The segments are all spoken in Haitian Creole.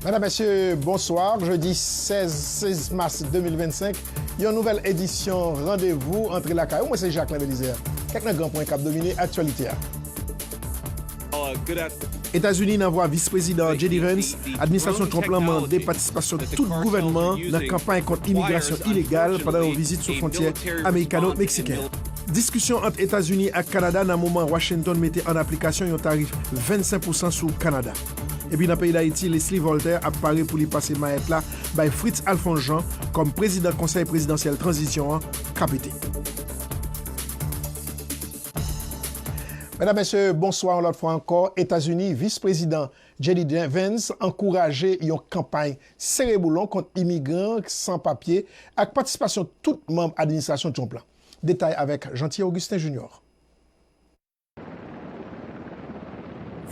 Madame, Mesye, bonsoir. Jodi 16 16 mas 2025, yon nouvèl edisyon Randevou antre lakay ou. Mwen se Jacquelin Belizaire. Kèk nan gran pwen k ap domine aktyalite a. Etazini nan vwa Vis Prezidan JD Vance, Administrasyon Trump lan mande patisipasyon tout gouvènman an nan kanpay kont imigrasyon ilegal pandan yon vizit sou fwontyè amerikano-meksiken an. Diskisyon ant Etazini ak Kanada nan moman Washington mete an aplikasyon yon tarif 25 pousan sou Kanada. Epi nan peyi Dayiti, Leslie Voltaire ap pare pou li pase mayèt la bay Fritz Alphonse Jean kòm prezidan Konsèy Prezidansyèl Tranzisyon an, kpt. Medam, Mesye, bonswa yon lòt fwa ankò. Etazini, Vis Prezidan JD Vance ankouraje yon kanpay sere-boulon kont imigran san papye ak patisipasyon tout manm administrasyon Trump la. Detay avèk Jeanty Augustin Junior.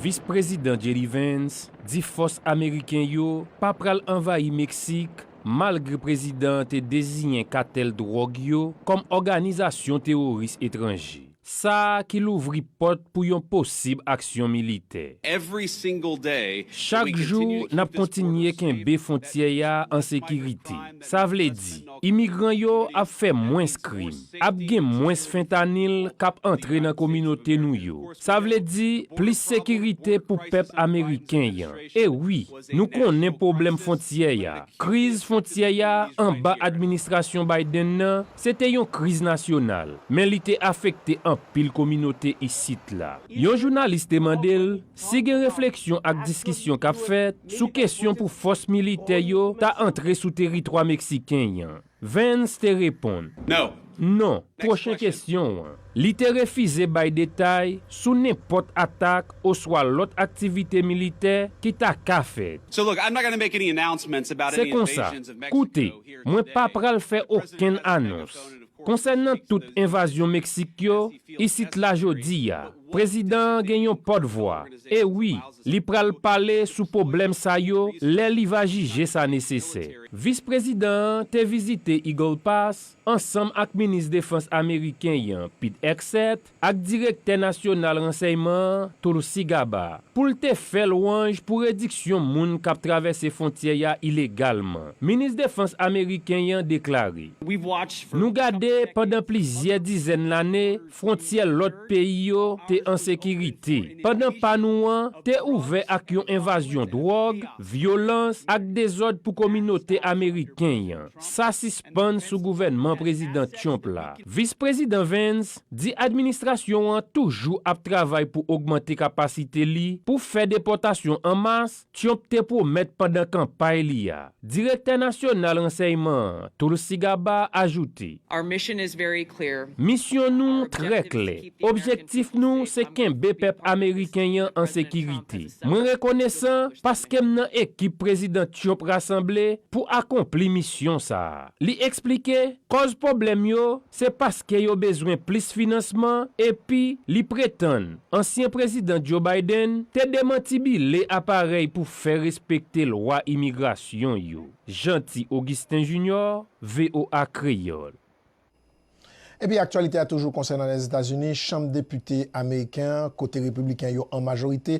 Vis Prezidan JD Vance di fòs ameriken yo pa pral anvayi Meksik malgre prezidan an te deziyen katèl dwòg yo kòm òganizasyon teworis etranje, sa ki louvri pòt pou yon posib aksyon militè. Chak jou, n ap kontinye kenbe fontyè a an sekirite. Sa vle di, imigran yo ap fè mwens krim, ap gen mwens fentanyl k ap antre nan kominote nou yo. Sa vle di, plis sekirite pou pèp ameriken an. E wi, nou konnen pwoblèm fwontyè a, kriz fwontyè a anba administrasyon Biden nan, se te yon kriz nasyonal, men li te afekte anpil kominote isit la. Yon jounalis te mande l, Si gen refleksyon ak diskisyon k ap fèt sou kesyon pou fòs militè yo ta antre sou teritwa meksiken an, Vance te reponn, Non, pwochen kesyon an. Li te refize bay detay sou nenpòt atak oswa lòt aktivite militè ki ta ka fèt. Se konsa, koute, mwen pa pral fè okenn anons, Konsènan tout envazyon Meksik yo isit la jodi a, prezidan an gen yon pòt vwa, e wi, li pral pale sou poblèm sa yo lè li va jije sa nesesè. Vis prezidan an te vizite Eagle Pass ansanm ak minis defans ameriken an Pete Hegseth, ak direktè nasyonal ransèyman an, Tulsi Gabbard, pou l te fè lwanj pou rediksyon moun k ap travèse fontyè a ilegalman. Minis defans ameriken an deklare, Nou gade pandan plizyè dizèn lane fwontyè lòt peyi yo te an sekirite, pandan pa nou an te ouvè ak yon envazyon dwòg, vyolans ak dezòd pou kominote ameriken an. Sa sispann sou gouvènman Prezidan Trump la. Vis Prezidan Vance di administrasyon an toujou ap travay pou ogmante kapasite li pou fè depòtasyon an mas Tyonp te pwomèt pandan kanpay li a. Direktè Nasyonal Ransèyman an, Tulsi Gabbard, ajoute. Misyon nou trè klè. Objektif nou se kenbe pèp ameriken an an sekirite. Mwen rekonesan paske m nan ekip Prezidan Tyonp rasanble pou akonpli misyon sa a, li eksplike. Kòz pwoblèm yo Se paske yo bezwen plis finansman epi li pretann ansyen Prezidan Joe Biden te demantibile aparèy pou fè respekte lwa imigrasyon yo. Jeanty Augustin Junior, voa Kreyòl. Epi aktyalite a toujou konsènan Lèzetazini, Chanm Depite ameriken an, kote Repibliken yo an majorite,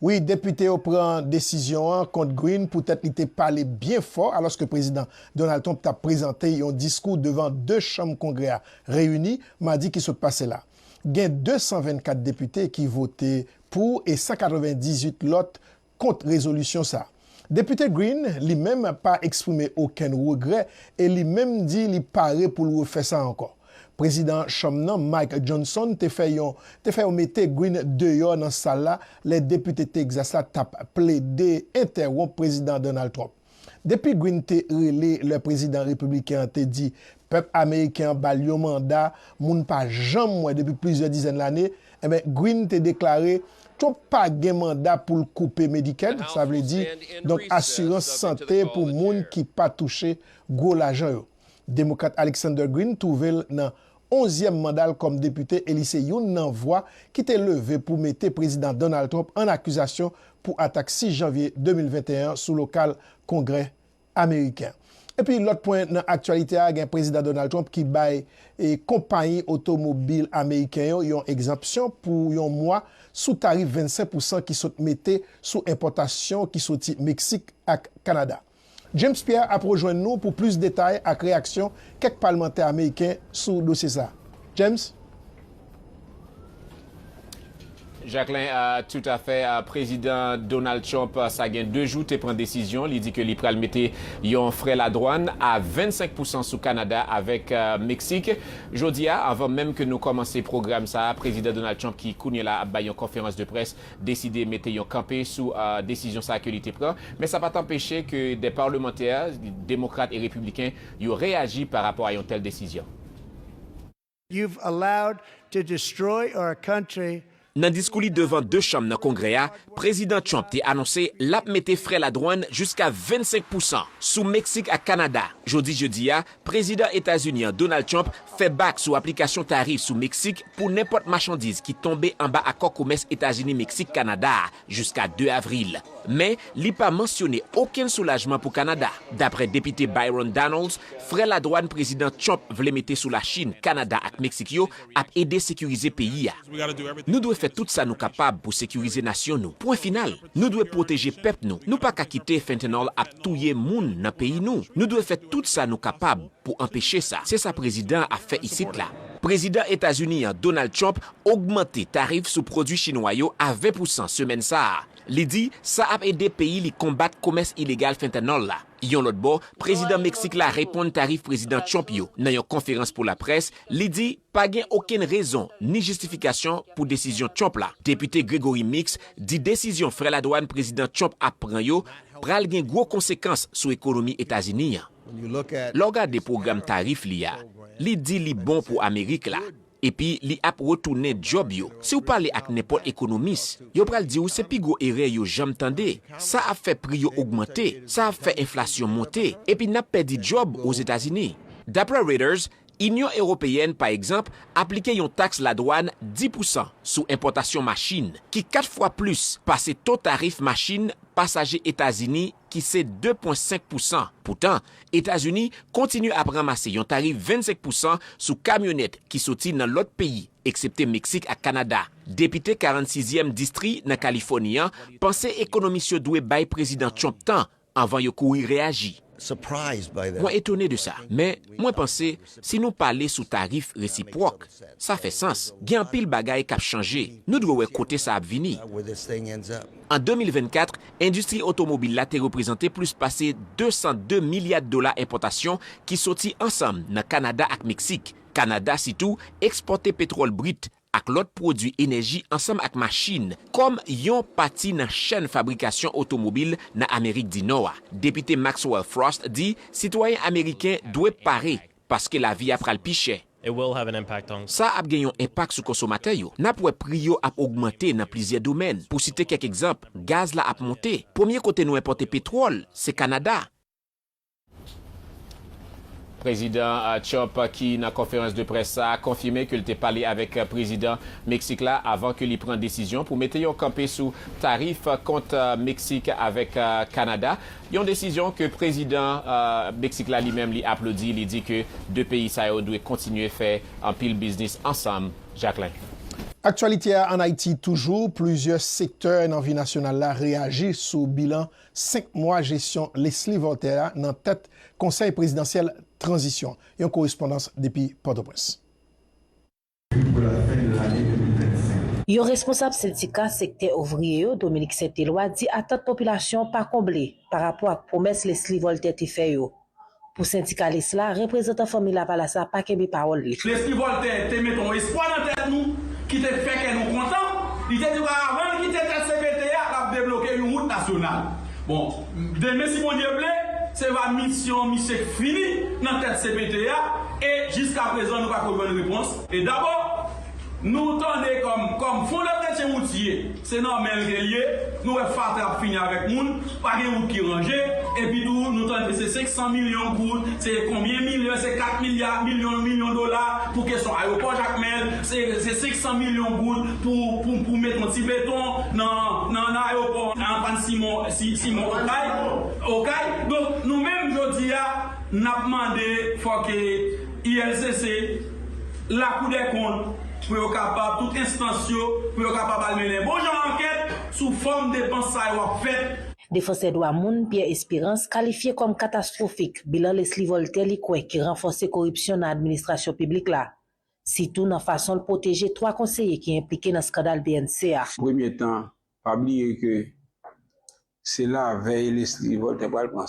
Wi, depite yo pran desizyon an kont Greene poutèt li te pale byen fò alòske Prezidan Donald Trump t ap prezante yon diskou devan 2 chanm Kongrè a reyini madi ki sot pase la. Gen 224 depite ki vote pou e 198 lòt kont rezolisyon sa a. Depite Greene, li menm, pa eksprime okenn regrè e li menm di li pare pou l refè sa ankò. Prezidan Chanm nan, Mike Johnson, te fè yon te fè yo mete Greene deyò nan sal la lè depite Texas la t ap plede entèwonp Prezidan Donald Trump. Depi Greene te rele lè prezidan repibliken an te di Pèp ameriken an ba l yon manda moun pa janm wè depi plizyè dizèn lane, enben Greene te deklare Trump pa gen manda pou l koupe Medicaid, sa vle di, donk asirans sante pou moun ki pa touche gwo lajan yo. Demokrat Alexander Greene twouve l nan onzyèm manda l kòm depite e li se youn nan vwa ki te leve pou mete Prezidan Donald Trump ann akizasyon pou atak 6 janvye 2021 an sou lokal Kongrè ameriken. Epi lòt pwen nan aktyalite a gen Prezidan Donald Trump ki bay konpayi otomobil ameriken yo yon egzanpsyon pou yon mwa sou tarif 25 pousan ki sot mete sou enpòtasyon ki soti Meksik ak Kanada. James Pierre ap rejwenn nou pou plis detay ak reyaksyon kèk palmantè ameriken sou dosye sa. James? Jacquelin a tout a fè a prezidan Donald Trump sa gen 2 jou te pran desizyon li di ke li pral mete yon frè ladwann a 25 pousan sou Kanada avèk Meksik jodi a avan menm ke nou kòmanse pwogram sa a prezidan Donald Trump ki kounye la ap bay yon konferans de près deside mete yon kanpe sou desizyon sa a ke li te pran men sa pat anpeche ke dè parlemantè demokrat e repibliken yo reyaji pa rapò a yon tèl desizyon. You've allowed to destroy our country. Nan diskou li devan 2 chanm nan Kongrè a, Prezidan Trump te anonse lap mete frè ladwann jiska 25 pousan sou Meksik ak Kanada. Jodi jedi a, Prezidan Etazini an Donald Trump fè bak sou aplikasyon tarif sou Meksik pou nenpòt machandiz ki tonbe anba akò komès Etazini-Meksik-Kanada a. jiska 2 avril, men li pa mansyone okenn soulajman pou Kanada, dapre Depite Byron Donalds, frè ladwàn Prezidan Trump vle mete sou Lachin, Kanada ak Meksik yo ap ede sekirize peyi a. Nou dwe fè tout sa nou kapab pou sekirize nasyon nou, pwen final. Nou dwe pwoteje pèp nou, nou pa ka kite fentanyl ap touye moun nan peyi nou, nou dwe fè tout sa nou kapab pou anpeche sa, se sa prezidan an ap fè isit la. Prezidan Etazini an, Donald Trump, ogmante tarif sou pwodui chinwa yo a 20 pousan semèn sa a. Li di sa ap ede peyi li konbat komès ilegal fentanyl la. Yon lòt bò, prezidan Meksik la reponn tarif prezidan Trump yo. Nan yon konferans pou laprès, li di pa gen okenn rezon ni jistifikasyon pou desizyon Trump la. Depite Gregory Meeks di desizyon frè ladwàn prezidan Trump ap pran yo pral gen gwo konsekans sou ekonomi Etazini an. Lè w gade pwogram tarif li a, li di li bon pou Amerik la, Epi li ap retounen djòb yo. Si w pale ak nenpòt ekonomis, yo pral di w se pi gwo erè yo janm tande. Sa ap fè pri yo ogmante, sa ap fè enflasyon monte, epi n ap pèdi djòb Ozetazini. Daprè Reuters, Inyon Ewopeyèn, pa egzanp, aplike yon taks ladwàn 10 pousan sou enpòtasyon machin, ki 4 fwa plis pase to tarif machin pasaje Etazini ki se 2,5 pousan. Poutan, Etazini kontinye ap ranmase yon tarif 25 pousan sou kamyonèt ki soti nan lòt peyi, eksepte Meksik ak Kanada. Depite 46 zièm distri nan Kalifòni an panse ekonomis yo dwe bay Prezidan Trump tan anvan yo kouri reyaji. Mwen etone de sa, men mwen panse Si nou pale sou tarif resipwòk, sa fè sans. Gen anpil bagay k ap chanje. Nou dwe wè kote sa ap vini. An 2024, endistri otomobil la te reprezante plis pase 202 milya dola enpòtasyon ki soti ansanm nan Kanada ak Meksik. Kanada sitou ekspòte petwòl brit ak lòt pwodui enèji ansanm ak machin kòm yon pati nan chèn fabrikasyon otomobil nan Amerik di Nò a. Depite Maxwell Frost di sitwayen ameriken dwe pare paske lavi a pral pi chè. Sa ap gen yon enpak sou konsomatè yo. N ap wè pri yo ap ogmante nan plizyè domèn. Pou site kèk egzanp, gaz la ap monte. Premye kote nou enpòte petwòl, se Kanada. Prezidan Trump ki nan konferans de près sa a konfime ke l te pale avèk Prezidan Meksik la avan ke li pran desizyon pou mete yon kanpe sou tarif kont Meksik avèk Kanada, yon desizyon ke Prezidan Meksik la li menm li aplodi, li di ke 2 peyi sa yo dwe kontinye fè anpil biznis ansanm. Jacquelin. Aktyalite a ann Ayiti toujou, plizyè sektè nan vi nasyonal la reyaji sou bilan 5 mwa jesyon Leslie Voltaire a nan tèt Konsèy Prezidansyèl Tranzisyon, yon korespondans depi Pòtoprens. Yon responsab sendika sektè ouvriye yo, Dominique Saint Eloi di atant popilasyon an pa konble pa rapò ak pwomès Leslie Voltaire te fè yo. Pou sendikalis la, reprezantan Fanmi Lavalas la pa kenbe pawòl li. Lespri Vòltè te mete yon espwa nan tèt nou ki te fè kè nou kontan. Li te di nou avan l kite tèt cpt a, l ap debloke yon wout nasyonal. Bon, demen si Bondye vle, se va misyon misye k fini nan tèt cpt a e jiskaprezan nou pako jwenn repons. E dabò, nou tande kòm kòm Fondè Kretyen Woutye Se nan menl ke l ye, nou wè fatra ap fini avèk moun, pa gen wout ki ranje, epi tou nou tande se 500 milyon goud, se konbyen milyon, se 4 milya, milyon, milyon dola pou kesyon ayopò Jakmèl, se 500 milyon goud pou pou met yon ti beton nan nan ayopò Antoine Simon Simon Okay Okay, donk nou menm jodi a nap mande fò ke ULCC, lakoudèkont, pou yo kapab, tout enstans yo, pou yo kapab al mennen bon jan ankèt sou fòm depans sa yo ap fèt. Defansè dwa moun Pierre Espérance kalifye kòm katastwofik bilan Leslie Voltaire li kwè ki ranfòse koripsyon nan administrasyon piblik la, sitou nan fason l pwoteje 3 konseye ki enplike nan skandal bnc a. Premye tan, pa bliye ke Se lavèy Leslie Rivol te pral pran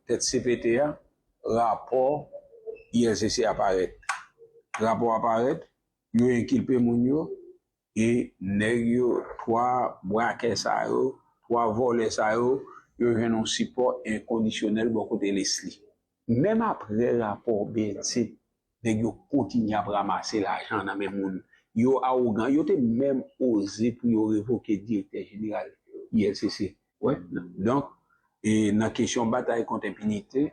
tèt cpt a, rapò ILCC a parèt. Rapò a parèt, yo enkilpe moun yo e nèg yo, 3 brakè sa yo, 3 vòlè sa yo, yo jwenn yon sipò enkondisyonèl bò kote Leslie. Menm aprè rapò bnse nèg yo kontinye ap ramase lajan nan men moun, yo awogan, yo te menm oze pou yo revoke direktè jeneral ulcc. Wè donk nan kesyon batay kont enpinite,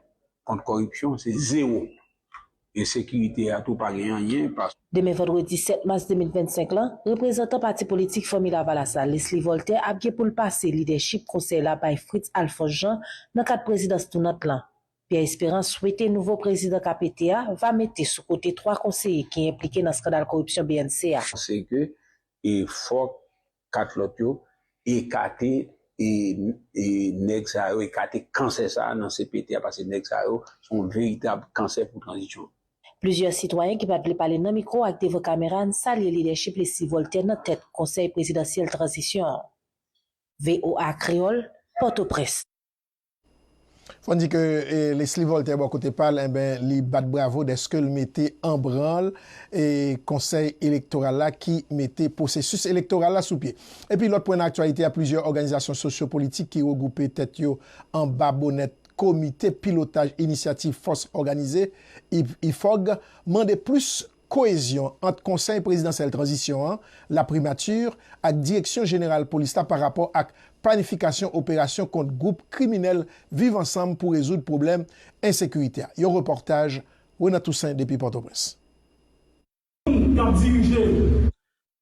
kont kòripsyon se zewo. Ensekirite a tou pa gen anyen paske. Demen vandredi 7 mas 2025 lan, reprezantan pati politik Fanmi Lavalas la, Lesly Voltaire ap gen pou l pase lidèchip konsèy la bay Fritz Alphonse Jean nan kad prezidans tounant lan. Pierre Espérance swete nouvo prezidan ka pete a va mete sou kote 3 konseye ki enplike nan skandal koripsyon bnc a. Panse ke fòk 4 lòt yo ekate nèg sa yo, ekate kansè sa a nan cpt a pase nèg sa yo se yon veritab kansè pou tranzisyon an. Plizyè sitwayen ki pa t vle pale nan mikwo ak devan kamera an salye lidèchip Leslie Voltaire nan tèt Konsèy Prezidansyèl Tranzisyon an. voa Kreyòl, Pòtoprens. Fò n di ke Leslie Voltaire bò kote pa l, enben li bat bravo dèske l mete an branl Konsèy Elektoral la ki mete pwosesis elektoral la sou pye. Epi lòt pwen nan aktyalite a, plizyè òganizasyon sosyo politik ki regwoupe tèt yo anba bonèt Komite Pilotaj Inisyativ Fòs Òganize, IFOG, mande plis koezyon ant Konsèy Prezidansyèl Tranzisyon an, laprimati, ak Direksyon Jeneral Polis la pa rapò ak planifikasyon operasyon kont gwoup kriminèl Viv Ansanm pou rezoud pwoblèm ensekirite a. Yon repòtaj Renan Toussaint depi Pòtoprens. Moun kap dirije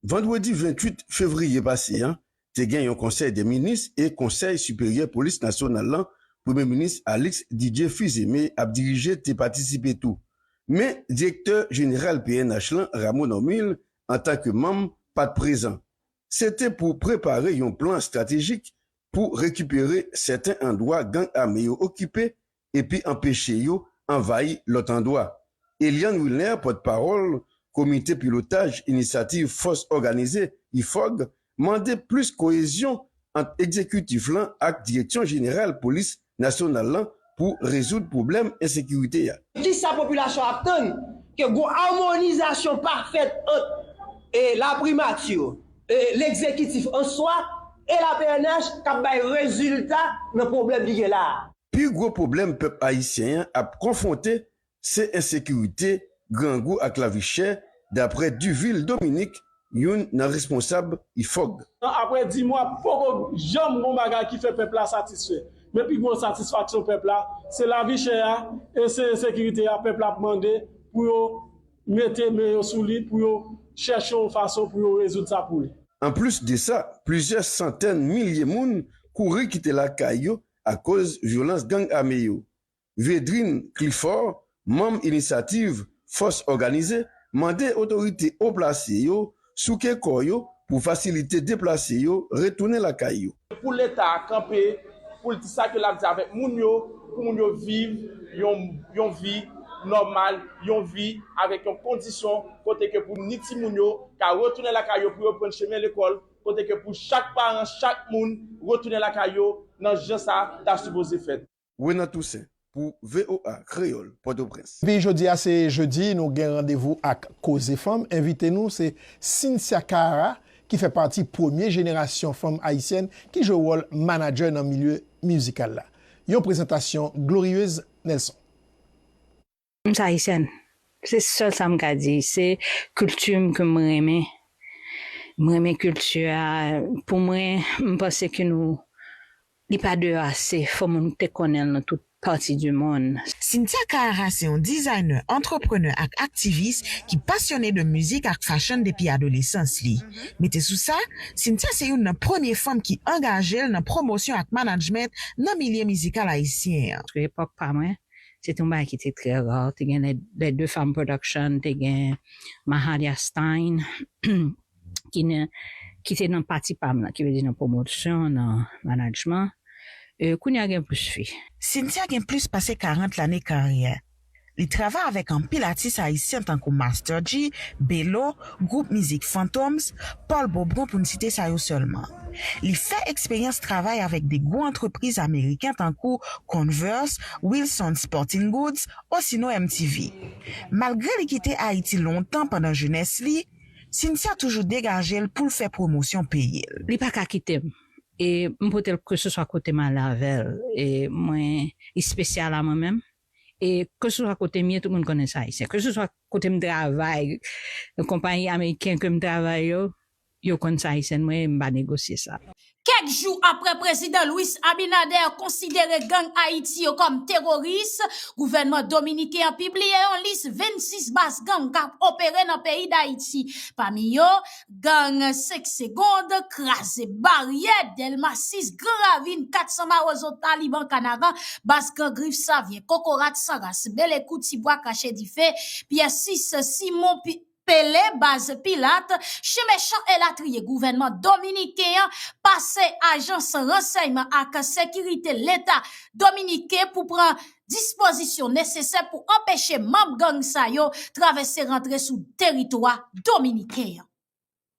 Vandredi 28 fevriye pase an, te gen yon konsèy dè minis e konsèy siperyè polis nasyonal lan premye minis Alix Didier Fils-Aimé ap dirije te patisipe tou. Men direktè jeneral pnh lan Rameau Normil antan ke manm pat prezan. Se te pou prepare yon plan estratejik pou rekipere sèten andwa gang ame yo okipe epi anpeche yo anvayi lòt andwa. Eliane Wilner, pòtpawòl Komite Pilotaj Inisyativ Fòs Òganize, IFOG, mande plis koyezyon ant egzekitif lan ak Direksyon Jeneral Polis Nasyonal lan pou rezoud pwoblèm ensekirite a. Ki sa popilasyon ap tann? Ke gon amonizasyon pafèt ant laprimati, legzekitif an swa e la pnh k ap bay rezilta nan pwoblèm ki gen la a. Pi gwo pwoblèm pèp ayisyen an ap konfwonte se ensekirite, grangou ak lavi chè, daprè Duvil Dominique, youn nan responsab IFOG. Tan aprè di mwa, poko janm gon bagay ki fè pèp la satisfè. Men pi gwo ensatisfaksyon pèp la, se lavi chè a e se ensekirite a pèp la ap mande pou yo mete men yo sou li, pou yo chèche yon fason pou yo rezoud sa pou li. Anplis de sa, plizyè santèn milye moun kouri kite lakay yo akoz vyolans gang ame yo. Védrine Clifford, manm Inisyativ Fòs Òganize, mande otorite o plase yo souke kò yo pou fasilite deplase yo retounen lakay yo. Pou Leta a kanpe pou l di sa ke l ap di avèk moun yo, pou moun yo viv yon yon vi nòmal, yon vi avèk yon kondisyon kote ke pou ni timoun yo ka retounen lakay yo pou yo prann chemen lekòl, kote ke pou chak paran chak moun retounen lakay yo nan jan sa ta sipoze fèt. Renan Toussaint pou voa Kreyol, Potoprens. Epi jodi a se jedi nou gen randevou ak koze fanm, envite nou se Cynthia Cara ki fè pati premye jenerasyon fanm ayisyèn ki jwe wòl manadjè nan milye mizikal la. Yon prezantasyon Glorieuse Nelson. M se Ayisyèn, se sèl sa m ka di. Se kilti m ke m renmen. M renmen kilti a. Pou mwen, m panse ke nou, li pa deyò ase. Fò moun te konnen l nan tout pati di monn. Cynthia Kaara se yon dizayne, antreprenè ak aktivis ki pasyone de mizik ak fashion depi adolesans li. Mete sou sa, Cynthia se youn nan premye fanm ki angaje l nan pwomosyon ak manajment nan milye mizikal ayisyen an. Sou epòk pa mwen, Se te yon bagay ki te trè ra. Te gen Les Deux Femmes Production, te gen Mahalia Stein ki te nan pati pa m lan, ki vle di nan pwomosyon, nan manajman. Kounye a gen plis fi. Cynthia gen plis pase 40 lane karyè. Li travay avèk anpil atis ayisyen tankou Master Dji, Belo, gwoup mizik Fantoms, Paul Beaubrun pou n site sa yo sèlman. Li fè eksperyans travay avèk de gwo antrepriz ameriken tankou Converse, Wilsons Sporting Goods osinon MTV. Malgre li kite Ayiti lontan pandan jenès li, Cynthia toujou degaje l pou l fè pwomosyon peyi l. Li pa ka kite m e m pote l keseswa kote m ale avè l e mwen espesyal a mwen menm. E keseswa kote m ye, tout moun konnen se Ayisyen. Keseswa kote m travay, konpayi ameriken ke m travay yo, yo konn se Ayisyèn mwen ye, m pa negosye sa. Kèk jou apre Prezidan Luis Abinader konsidere gang Ayiti yo kòm teroris, gouvènman dominiken an pibliye yon lis 26 baz gang k ap opere nan peyi Dayiti. Pami yo, Gang 5 segond, kraze baryè, Dèlma 6, Gran Ravin, 400 Mawozo, Taliban, Kanaran, Baz Gran Grif, Savyen, Kokorat, San Ras, Belekou, Ti Bwa, Kache Dife, Pyè 6, Simon, Pele, Baz Pilat, Chen Mechan elatriye gouvènman dominiken an pase ajans ransèyman ak sekirite leta dominiken pou pran dispozisyon nesesè pou anpeche manb gang sa yo travèse rantre sou teritwa dominiken an.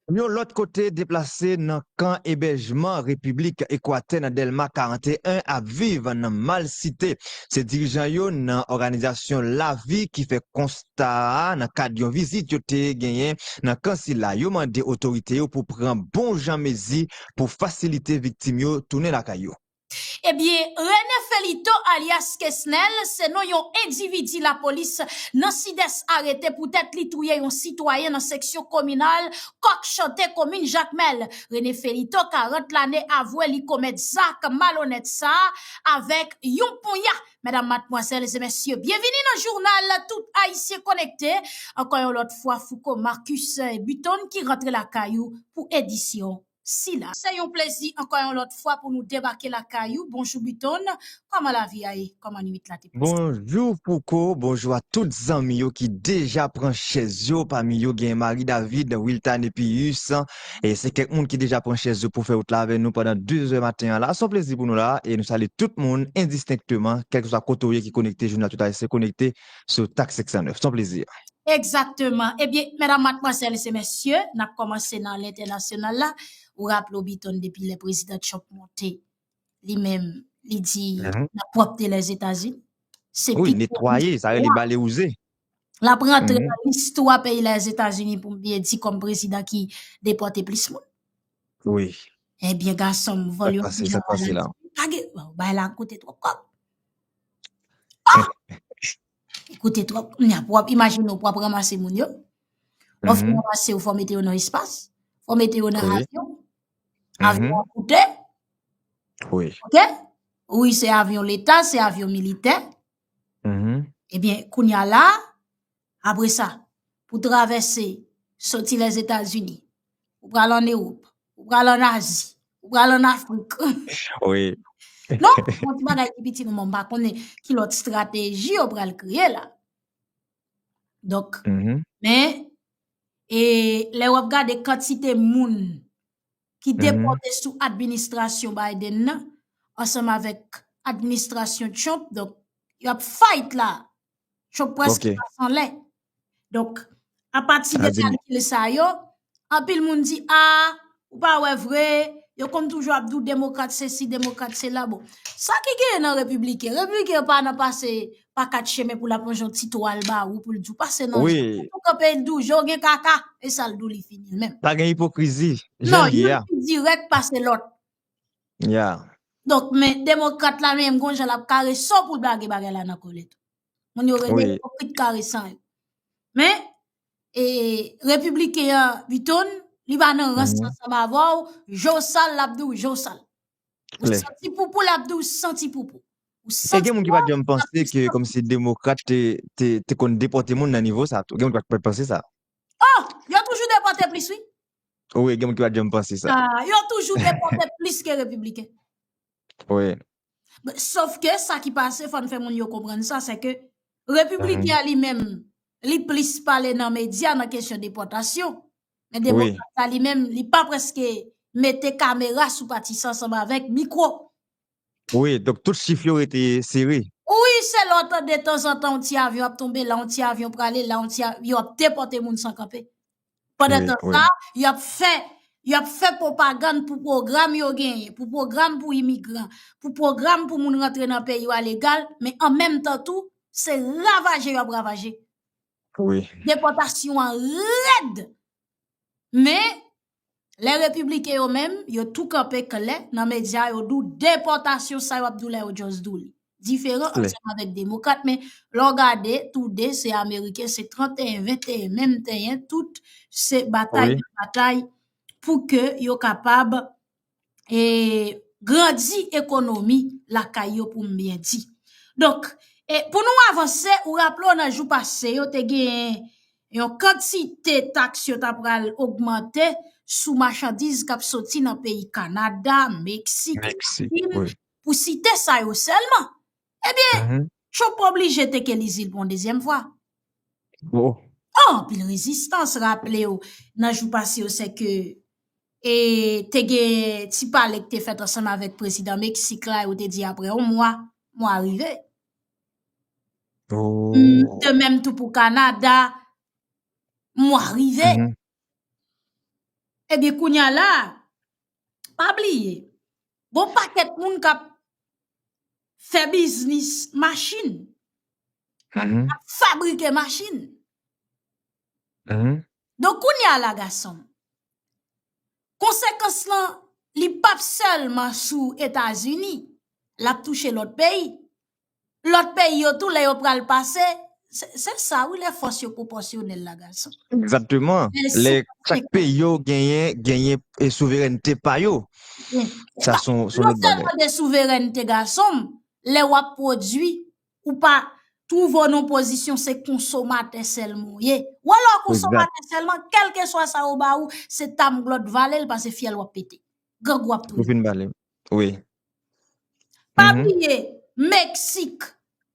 Yon lòt kote, deplase nan kan ebèjman Repiblik Ekwatè nan Dèlma 41 ap viv nan malsite. Se dirijan yo nan òganizasyon Lavi ki fè konsta a nan kad yon vizit yo te genyen nan kan sila. Yo mande otorite yo pou pran bon jan mezi pou fasilite viktim yo tounen lakay yo. Ebyen Rene Felito alyas Kesnel se non yon endividi lapolis nan Sidès arete poutèt li touye yon sitwayen nan seksyon kominal Kòk Chante komin Jakmèl. Rene Felito 40 lane avwe li komèt zak malonèt sa avèk yon ponya. Medam, matmwazèl e mesye, byenvini nan jounal tout Ayisyen konekte. Ankò yon lòt fwa Fouco Marcus Buthon ki rantre lakay ou pou edisyon. sila. Se yon plezi ankò yon lòt fwa pou nou debake lakay ou, bonjou Buton, kòman lavi a ye, kòman nwit la te pase. Bonjou Fouco, bonjou a tout zanmi yo ki deja pran chèz yo, pami yo gen Marie David, Wiltane Pius, e se kèk moun ki deja pran chèz yo pou fè wout la avè nou pandan 2 zè maten an la, se yon plezi pou nou la, e nou salye tout moun endistenkteman, kèlkeswa kote ou ye ki konekte, jounal tout Ayisyen konekte. sou tax 609. Son plezi. Egzakteman. Ebyen, medam, matmwazèl se mesye, n ap kòmanse nan lentènasyonal la. Ou raple w Biton depi lè prezidan Trump monte, li menm li di l ap pwòpte Lèzetazini. Se pi gwo istwa. L ap rantre nan istwa peyi Lèzetazini pou m byen di kòm prezidan ki depòte plis moun. Wi. Ebyen gason m, vòl yo fini an Ayiti. Pa gen, bay la koute twòp kòb. Ekoute trop, kounya pou wap imajine ou pou wap ranmase moun yo, ou fin ranmase yo fò mete yo nan espas, fò mete yo nan avyon, avyon an koute, ok, wi se avyon leta, se avyon militè, ebyen kounya la, Apre sa, pou travèse, soti Lèzetazini, ou pral ann Ewop, ou pral ann Azi, ou pral ann Afrik. Wi. Non, bon ti bagay ki piti nou, men m pa konnen ki lòt estrateji yo pral kreye la. Donk, men, e lè w ap gade kantite moun ki depòte sou administrasyon Biden nan, ansanm avèk administrasyon Trump, donk, y ap fight la. Chok pwès ki pa san lè. Donk, apati de kalkil sa yo, anpil moun di, a, ou pa wè vre, yo konn toujou ap dou demokrat se si, demokrat se la bo. Sa ki gen nan repiblike, repiblike yo pa nan pase pa kat cheme pou la ponjon ti twal ba ou pou l di ou pase nan jè. Ou kope l di ou jè ou gen kaka, e sa l di ou li fini menm. Pa gen ipokrizi, jè li ya. Non, yon ki direk pase lot. Yeah. Donk men demokrat la menm gon jan lap kare so poul blage bagay la nan kòlèt. Moun yo rele ipokrit karesan yo. Men e repibliken an Biton li pa nan rans ansanm avèw je w sal lap diw je w sal. Ou santi poupou lap diw santi poupou. E gen moun ki pat janm panse ke komsi demokrat te konn depote moun nan nivo sa tou. Gen moun ki pat panse sa. Oh yo toujou depote plis wi. Wi, gen moun ki pat janm panse sa. Ah, yo toujou depote plis ke repibliken. Wi. Sof ke sa ki pase, fòn fè moun yo konprann sa, se ke repibliken an li menm, li plis pale nan medya nan kesyon depotasyon. Men demokrat la li menm, li pa preske mete kamera sou pati sa ansanm avèk mikwo. Wi donk tout chif yo rete sere. Ui se lè w tande detanzantan yon ti avyon ap tonbe la yon ti avyon prale la yon ti avyon yo ap depòte moun san kanpe pandantan sa yo ap fè yo ap fè pwopagann pou pwogram yo genyen pou pwogram pou imigran pou pwogram pou moun rantre nan peyi yo a legal men an menm tan tou se ravaje yo ap ravaje depòtasyon an rèd men Lè repibliken yo menm, yo tou kanpe klè nan medya yo di w depòtasyon sa yo ap di w la yo just di w li. Diferan ansanm avèk demokrat men lè w gade tou de se ameriken se 31, 21 menm tenyen tout se batay batay pou ke yo kapab e grandi ekonomi lakay yo pou m byen di. Donk, e pou nou avanse, ou raple w nan jou pase yo te gen yon kantite taks yo ta pral ogmante sou machandiz k ap soti nan peyi Kanada, Meksik, Akin, pou site sa yo sèlman. Ebyen, Trump oblije teke Lizil pou yon dezyèm fwa. Oh! Anpil rezistans, raple ou nan jou pase yo se ke e te gen ti pale ki te fèt ansanm avèk prezidan Meksik la, yo te di apre yon mwa, mwa rive. Oh! De menm tou pou Kanada, mwa rive. Ebyen, kounye a la, Pa bliye, gon pakèt moun k ap fè biznis machin, k ap fabrike machin. Donk kounye a la gason, konsekans lan li p ap sèlman sou Etazini, l ap touche lòt peyi. Lòt peyi yo tou lè yo pral pase, se sa wi lè fòs yo pwopòsyonèl la gason. Egzakteman, lè chak peyi yo genyen, genyen e souverènte pa yo. Sa son lòt bagay. Non sèlman de souverènte gason, lè w ap pwodui, ou pa twouve w nan pozisyon se konsomatè sèlman ou ye. Wè lè w konsomatè sèlman, kèlkeswa sa yo ba ou, se tamglòt vale l pase fyèl w ap pete. Grangou ap touye w. Ou fin vale l. Wi. Pa bliye Meksik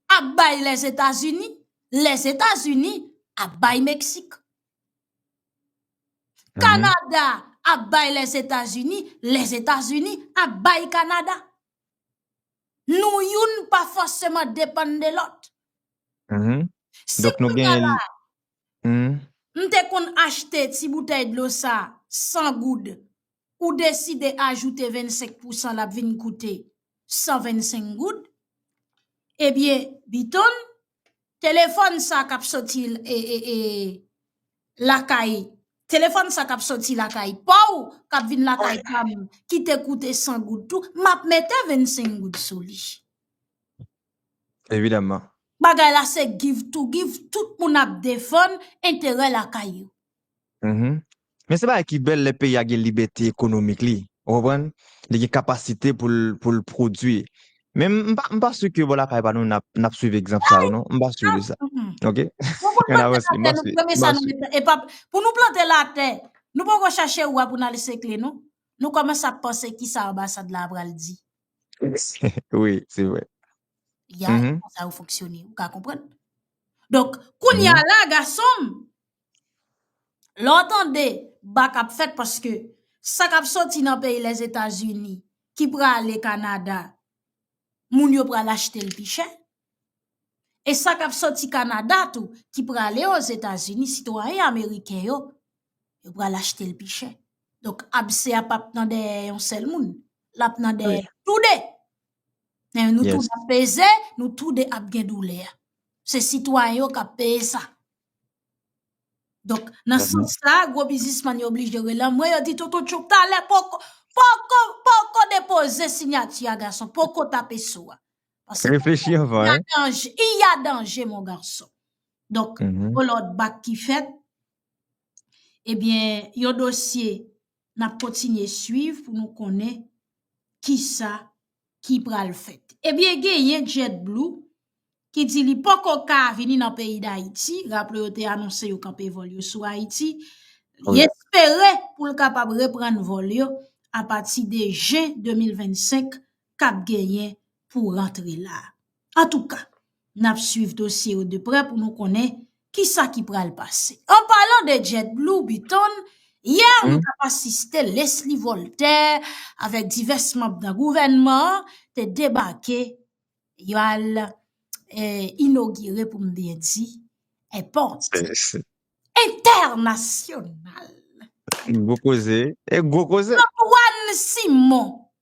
ap bay Lèzetazini, Lèzetazini ap bay Meksik. Kanada ap bay Lèzetazini, Lèzetazini ap bay Kanada. Nou youn pa fòseman depann de lòt. Si kounye a la, m te konn achte ti boutèy dlo sa 100 goud ou deside ajoute 25 pousan l ap vin koute 125 goud, ebyen Biton, telefòn sa k ap soti lakay, telefòn sa k ap soti lakay pa w, k ap vin lakay pa m, ki te koute 100 goud tou, m ap mete 25 goud sou li. Evidaman. Bagay la se give to give, tout moun ap defann enterè lakay yo. Men se bagay ki bèl lè peyi a gen libète ekonomik li, ou konprann, li gen kapasite pou l pwodui. Men m pa si ke bò lakay pa nou n ap swiv egzanp sa yo non, m pa si de sa. Ok, an avanse, m pa si. E pa pou nou plante la tè, nou pa pou chache ou a pou nan lese kle nou, nou komanse ap panse ki sa anbasad la apral di. Wi, se vre. Ya, sa yo fonksyone, ou ka konprann. Donk, koun ya la, gason m, Lè w tande bak ap fèt paske sa k ap soti nan peyi Lèzetazini ki prale Kanada, moun yo pral achte l pi chè. E sa k ap soti Kanada tou ki prale Ozetazini, sitwayen ameriken yo, yo pral achte l pi chè. Donk abse a pap nan dèyè yon sèl moun, l ap nan dèyè tou de. Men nou tou ap peze, nou tou de ap gen doulè a. Se sitwayen yo k ap peye sa. Donk, nan sans sa, gwo bizisman yo oblije relan mwen, yo di Toto Tchouk talè poko, poko, poko depoze sinyati a gason, poko tape sou a. Reflechi anvan, hein. Pase, il y a danje, il y a danje mon garçon. Donk, yon lòt bak ki fèt, ebyen, yon dosye n ap kontinye swiv pou nou konnen kisa ki pral fèt. Ebyen genyen Jet Blue ki di li poko ka vini nan peyi Dayiti, raple yo te anonse yo kanpe vòl yo sou Ayiti, li espere pou l kapab reprann vòl yo apati de jen 2025 k ap genyen pou rantre la. Antouka, n ap swiv dosye yo de prè pou nou konnen ki sa ki pral pase. An palan de Jet Blue, Biton, yè nou t ap asiste Lesly Voltaire avèk divès manb nan gouvènman an te debake yo al inogire pou m byen di èpòt entènasyonal. Gwo koze, e gwo koze. Antoine Simon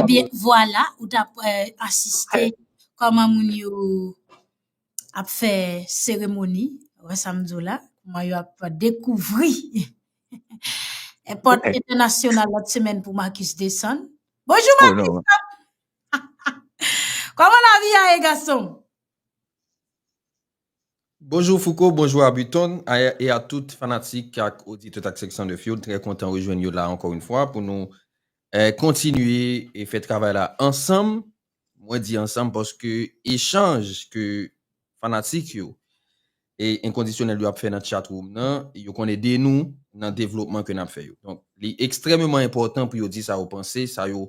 Ebyen vwala ou ta pran. asiste kòman moun yo ap fè seremoni, wè sa m di w la, kòman yo ap dekouvri èpòt entènasyonal lòt semèn pou Marcus desann. Bonjou Marcus! Kòman lavi a ye gason m? Bonjour Fouco, bonjour Abuton a et a tout fanatik ak oditè ak seksyon 9 yo, trè kontan rejwenn yo la ankò yn fwa pou nou kontinye e fè travay la ansanm, mwen di ansanm paske echanj ke fanatik yo e enkondisyonèl yo ap fè nan chat room nan yo konn ede nou nan devlopman ke nap fè yo donk li ekstrèmeman enpòtan pou yo di sa yo panse sa yo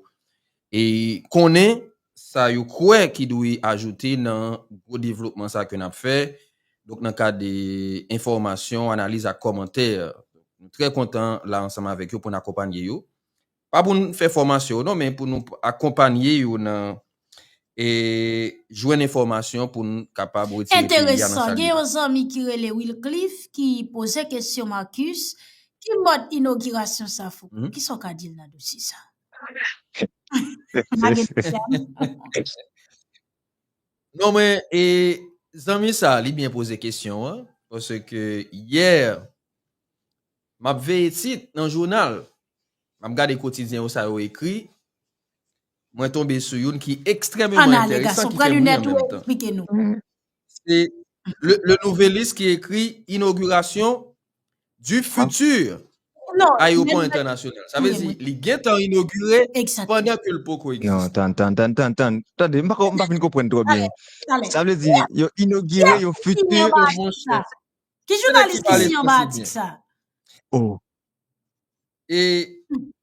E konnen sa yo kwè ki dwe ajoute nan gwo devlopman sa ke n ap fè, donk nan kad enfòmasyon, analiz ak kòmantè. Nou trè kontan la ansanm avèk yo pou n akonpanye yo. Pa pou n fè fòmasyon yo non, men pou nou akonpanye yo nan jwenn enfòmasyon pou n kapab retire peyi a nan sa li ye la. Enteresan, gen yon zanmi ki rele Wilcliff ki poze kesyon Marcus, ki mòd inogirasyon sa Fouco? Kisa w ka di l nan dosye sa a? Pa gen pwoblèm. Non men e zanmi sa li byen poze kesyon an paske yè m ap veye tit nan jounal, m ap gade kotidyen yo sa yo ekri, mwen tonbe sou youn ki ekstrememan enteresan ki fè bri an menm tan. Se Le Nouvelliste ki ekri inogirasyon di futur ayopò entènasyonal. Sa vle di li gen tan inogire pandan ke l poko egziste. Non, tann, tann, tann, tann. Tande, m pa fin konprann twò byen. Sa vle di yo inogire yon futur. Ki jounalis ki siyen anba atik sa? Oh. E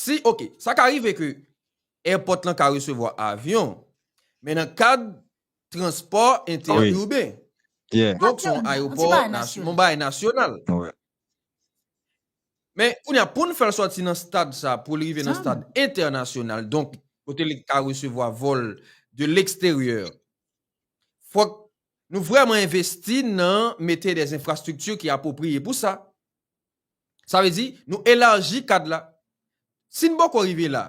Si, ok, sa ka rive ke èpòt lan ka resevwa avyon, men nan kad transpò entè-urben. Donk, son ayopò, son bagay nasyonal. Men, kounye a, poun fèl sòti nan stad sa, poul rive nan stad entènasyonal, donk, kote li ka resevwa vòl de leksteryè, fòk nou vrèman envesti nan mete dè enfrastrikti ki apopriye pou sa. Sa vle di, nou elarji kad la. Si n poko rive la,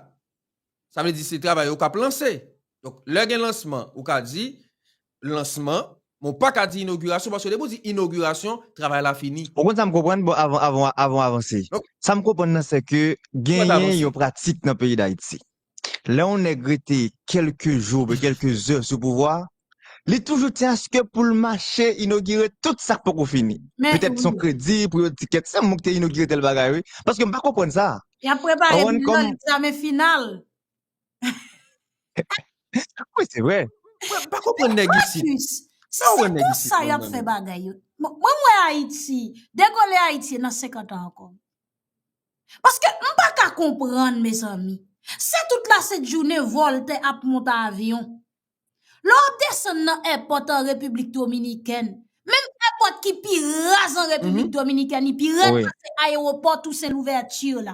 sa vle di se travay yo k ap lanse. Donk, lè gen lansman, ou ka di lansman, men w pa ka di inogirasyon, paske depi w di inogirasyon, travay la fini. Ou konn sa m konprann, bon, avan w avanse. Sa m konprann nan, sè ke genyen yon pratik nan peyi Dayiti. lè yon nèg rete kèlke jou oubyen kèlke zè sou pouvwa a, li toujou di aske pou l mache inogire tout sa k poko fini. Petèt son kredi pou yo di kèk sèm moun ki te inogire tèl bagay wi. Paske m pa konprann sa. Y ap prepare bilan egzamen final. Wi se vre. M pa konprann nèg isit. An plis, si se konsa y ap fè bagay yo, mwen m wè Ayiti, degole Ayiti nan 50 an ankò. Paske m pa ka konprann mezanmi. Se tout la sent jounen Voltè ap monte avyon. Lè w ap desann nan èpòt an Repiblik Dominikèn, menm èpòt ki pi raz an Repiblik Dominikèn, li pi rèd pase ayewopò Tousen Louvèti la.